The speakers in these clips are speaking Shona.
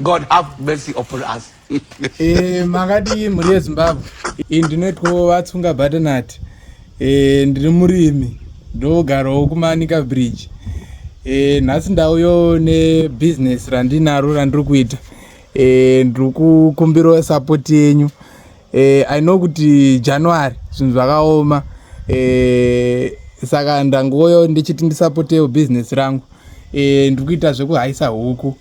God have mercy upon us. Eh, makadii mhuri yezimbabwe iyi ndinoitwawo vatsunga batanati eh, ndiri murimi ndogarawo kumanika bridge eh, nhasi ndauyo nebusiness randinaro randiri kuita ndiri kukumbirawo sapoti yenyu eh, i know kuti january zvinhu zvakaoma eh, saka ndangoyo ndichiti ndisapotewo business rangu eh, ndiri kuita zvekuhaisa huku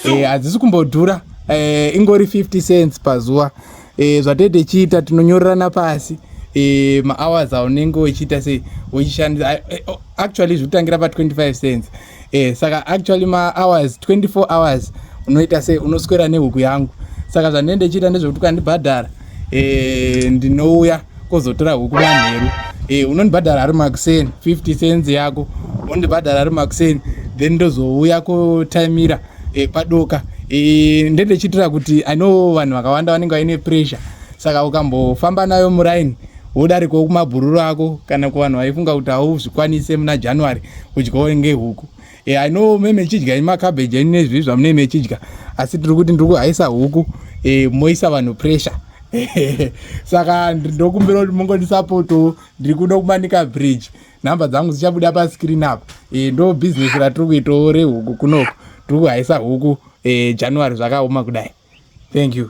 eh, hadzisi eh, kumbodhura eh, ingori 50 cents pazuva eh, zvatee tichiita tinonyorerana pasi eh, mahours aunenge uchiita sei uchishandisa eh, oh, actually zviri kutangira pa 25 cents eh, eh saka actually ma hours 24 hours unoita sei unoswera nehuku yangu saka zvandine ndichiita ndezvekuti ukandibhadhara eh ndinouya kozotora huku manheru eh unondibhadhara ari makuseni 50 cents yako undibhadhara ari makuseni then ndozouya kotaimira eh padoka eh ndende chitira kuti i know vanhu vakawanda vanenge vaine pressure saka ukambofamba nayo muraini wodarikawo kumabhururu ako kana kuvanhu vaifunga kuti hauzvikwanise muna january udyawo ngehuku e, i know me mechidya imacabbage enyu nezvii zvamunei mechidya asi tiri kuti ndiri kuhaisa huku e, moisa vanhu pressure saka ndokumbira kuti mungonisapotowo ndiri kuda kumanika bridge nhamba dzangu dzichabuda pascreen apo e, ndo bhizinesi ratiri kuitawo rehuku kunoko tiri kuhaisa huku e, january zvakaoma kudai thank you